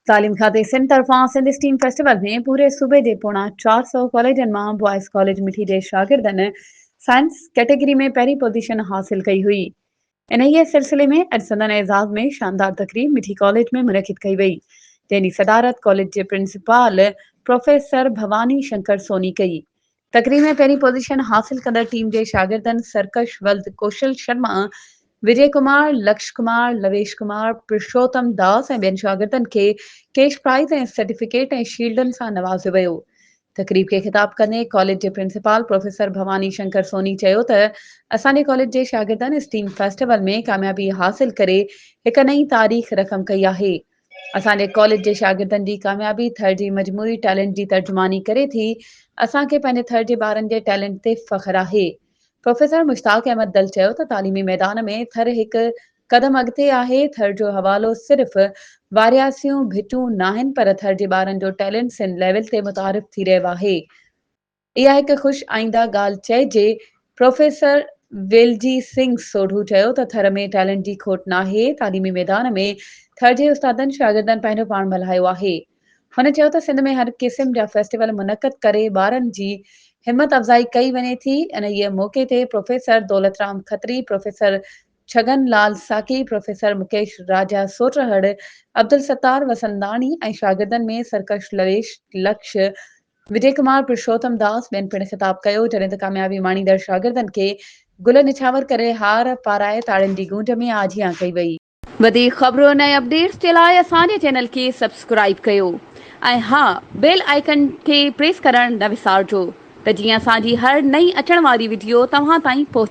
تعليم کاتي سنڌ طرفان سنڌ اسٽيم فيسٽيول ۾ پوري صوبي جي پوڻا چار سؤ ڪاليجن مان بوائز ڪاليج مٺي جي شاگردن سائنس ڪيٽيگري ۾ پهرين پوزيشن حاصل ڪئي هئي انهيء سلسلي ۾ اڄ سندن اعزاز ۾ شاندار تقريب مٺي ڪاليج ۾ منعقد ڪئي وئي جنهن جي صدارت ڪاليج جي پرنسپال پروفيسر ڀواني شنڪر سوني ڪئي تقريب ۾ پهرين پوزيشن حاصل ڪندڙ ٽيم جي شاگردن سرڪش ولد، ڪوشل شرما، وجي ڪمار، لڪش ڪمار، لويش ڪمار، پرشوتم داس ۽ ٻين شاگردن کي ڪيش پرائيز ۽ سرٽيفڪيٽ ۽ شيلڊن سان نوازيو ويو. تقريب کي خطاب ڪندي ڪاليج جي پرنسپال پروفيسر ڀواني شنڪر سوني چيو ته اسان جي ڪاليج جي شاگردن اسٽيم فيسٽيول ۾ ڪاميابي حاصل ڪري هڪ نئين تاريخ رقم ڪئي آهي اسان جي ڪاليج جي شاگردن جي ڪاميابي ٿر جي مجموعي ٽيلنٽ جي ترجماني ڪري ٿي، اسان کي پنهنجي ٿر جي ٻارن جي ٽيلنٽ تي فخر آهي. پروفيسر مشتاق احمد دل چيو ته تعليمي ميدان ۾ ٿر هڪ قدم اڳتي آهي، ٿر جو حوالو صرف وارياسيون ڀٽيون ناهن پر ٿر جي ٻارن جو ٽيلنٽ سنڌ ليول تي متعارف ٿي رهيو آهي. اها هڪ خوش آئنده ڳالهه چئجي، پروفيسر ويلجي سنگهه سوڍو چيو ته ٿر ۾ ٽيلنٽ جي کوٽ ناهي، تعليمي ميدان ۾ ٿر جي استادن شاگردن پنهنجو پاڻ ڀلايو آهي. هن چيو ته سنڌ ۾ هر قسم جا فيسٽيول منعقد ڪري ٻارن جي همت افزائي ڪئي وڃي ٿي، انهيء موقعي تي professor Daulat Ram Khatri, professor Chhagan Lal Saki, professor Mukesh Raja سوٽرهڙ، عبدالستار وسنداڻي ۽ شاگردن ۾ سرڪش لويش لڪش وجي ڪمار، پرشوتم داس ٻين پڻ خطاب ڪيو، جڏهن ته ڪاميابي ماڻيندڙ شاگردن کي گل نڇاور ڪري هار پارائي تاڙين جي گونج ۾ آجيان ڪئي وئي. وڌيڪ خبرون ۽ اپڊيٽس جي لاء اسان جي چينل کي سبسڪرائيب ڪيو ۽ ها بيل آئيڪن کي پريس ڪرڻ نه وسارجو ته جيئن اسان جي هر نئين اچڻ واري وڊيو توهان تائين پهچي.